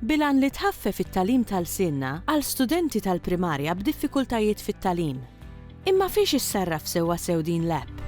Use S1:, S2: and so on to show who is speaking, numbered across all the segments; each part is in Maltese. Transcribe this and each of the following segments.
S1: bil-għan li tħaffef it-tagħlim ta' lsienna għal studenti tal-primarja b'diffikultajiet fit-tagħlim. Imma fiex issarraf sewwasew din l-app?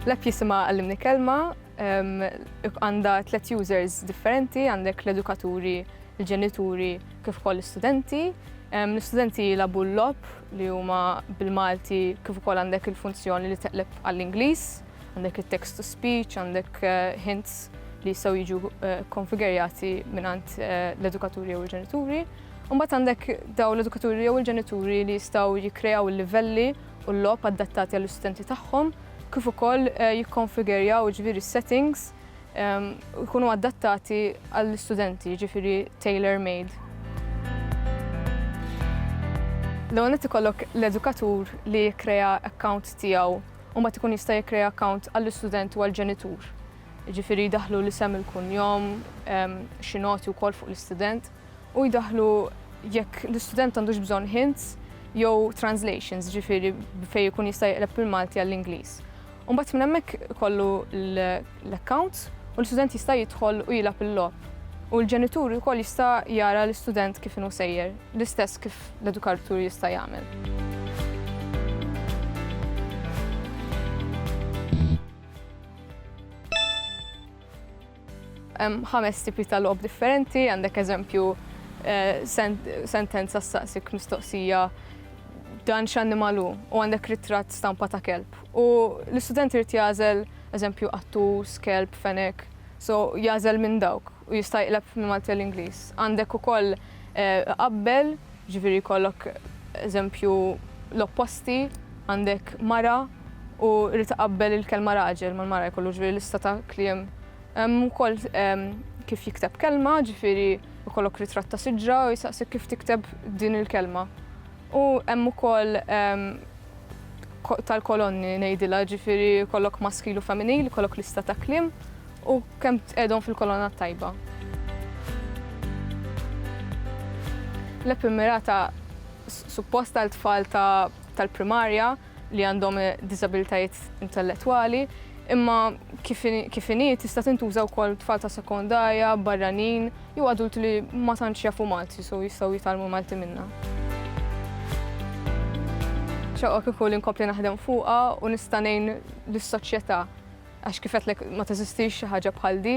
S2: L-app jisimha Għallimni Kelma, għandha tliet users differenti, għandek l-edukaturi, il-ġenituri kif ukoll l-istudenti. L-istudenti jilabu l-lob li huma bil-Malti kif ukoll għandek il-funzjoni li teqleb għall-Ingliż. Għandek it-text to speech, għandek hints li jistgħu jiġu konfigerjati mingħand l-edukaturi jew il-ġenituri. Mbagħad għandek daw l-edukaturi jew il-ġenituri li jistgħu jikkrejaw il-livelli u l-logħob adattati għall-istudenti tagħhom kif ukoll eh, jikkonfigerjaw ġviri settings ehm, jkunu adattati għall-studenti ġifiri tailor-made. L-għonet ikollok l-edukatur li kreja account tijaw u mbagħad ikun jista' jikkrea account għall-istudent u għall-ġenitur. Jiġifieri jdaħħlu l-isem il-kunjom, ehm, xi noti wkoll fuq l-istudent u jdaħħlu jekk l-istudent għandux bżonn hints jew translations, ġifieri fejn ikun jista' jqleb mill-Malti għall-Ingliż. Mbagħad minn hemmhekk kollu l l-accounts u l-istudent jista' jidħol u jilgħab il-logħob u l-ġenitur ukoll jista' jara l-istudent kif inhu sejjer, l-istess kif l-edukartur jista' jagħmel. Hemm ħames tipi ta' logħob differenti, għandek eżempju eh, sentenza staqsik mistoqsija dan x'annimal hu u għandek ritratt stampa ta' kelb. U l-istudent irid jagħżel Eżempju, qattus, kelb, fenek. So, jagħżel minn dawk u jista' jiqleb minn Malti għal Ingliż. Għandek ukoll iqabbel, jiġifieri jkollok eżempju l-opposti, għandek mara u jrid iqabbel il-kelma raġel mal-mara jkollu jiġifieri lista ta' kliem. Hemm ukoll kif jikteb kelma, jiġifieri jkollok ritratt ta' siġra u jistaqsik kif tikteb din il-kelma. U hemm ukoll tal-kolonni ngħidilha, ġifieri jkollok maskil u femminil, ikollok lista ta' kliem u kemm tqegħedhom fil-kolonna t-tajba. L-app immirata suppost għal tfal tal-primarja. li għandhom diżabilitajiet intellettwali, imma kif inhi tista' tintuża wkoll tfal ta' sekondarja, barranin, jew adulti li ma tantx jafu Malti so jistgħu jitgħallmu Malti minnha. Xewqa kieku li nkompli naħdem fuqha u nista' ngħin lis-soċjetà għax kif għedtlek ma teżistix xi ħaġa bħal di.